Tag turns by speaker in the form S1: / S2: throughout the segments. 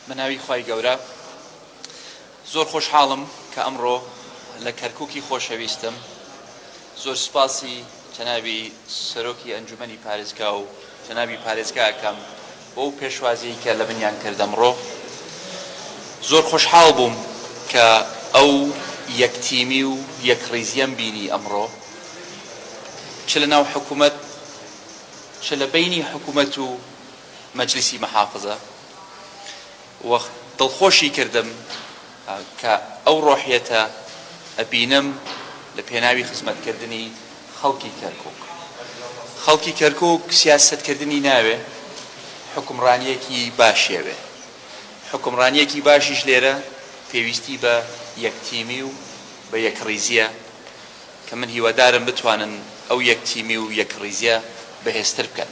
S1: بەناوی خوای گەورە زۆر خۆشحاڵم کە ئەمڕۆ لە کەرکوکی خۆشەویستم زۆر سپاسی جەنابی سەرۆکی ئەنجومەنی پارێزگا و جەنابی پارێزگا ئەکەم بۆ و پێشوازی کە لە منیان کردەمڕۆ زۆر خۆشحاڵ بووم کە ئەو یەکتیمی و یەک ڕیزیەم بینی ئەمڕۆ چ لە ناو حکوومەت چ لە بینی حکوومەت و مەجلیسی مەحافزە و دڵخۆشی کردم کە ئەو ڕۆحیەتە ئەبینم لە پێناوی خزمەتکردنی خەڵکی کەرکوک. خەڵکی کەرکوک سیاسەتکردنی ناوێ، حوکمڕانیەکی باشیەوێ. حوکمڕانیەکی باشیش لێرە پێویستی بە یەک تیمی و بە یەک ڕیزیە کە من هیوادارم بتوانن ئەو یەک تیمی و یەک ڕیزیە بەهێزتر بکەن.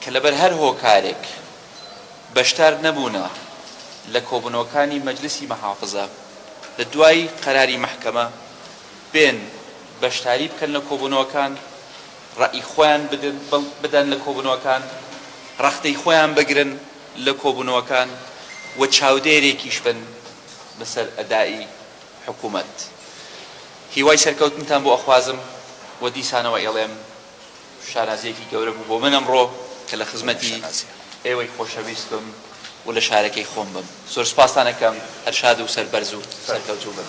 S1: کە لەبەر هەر هۆکارێک بەشدار نەبوونە لە کۆبوونەوەکانی مەجلیسی مەحافزە لە دوای قەراری مەحکەمە بێن بەشداری بکەن لە کۆبوونەوەکان، ڕەئی خۆیان بدەن لە کۆبوونەوەکان، ڕەختەی خۆیان بگرن لە کۆبوونەوەکان و چاودێرێکیش بن لەسەر ئەدائی حکوومەت. هیوای سەرکەوتنتان بۆ ئەخوازم و دیسانەوە ئێڵێم، شانازیەکی گەورە بوو بۆ من ئەمڕۆ کە لە خزمەتی ئێوەی خۆشەویست بم و لە شارەکەی خۆم بم زۆر سپاستان ئەکەم هەر شاد و سەربەرز و سەرکەوتوو بن.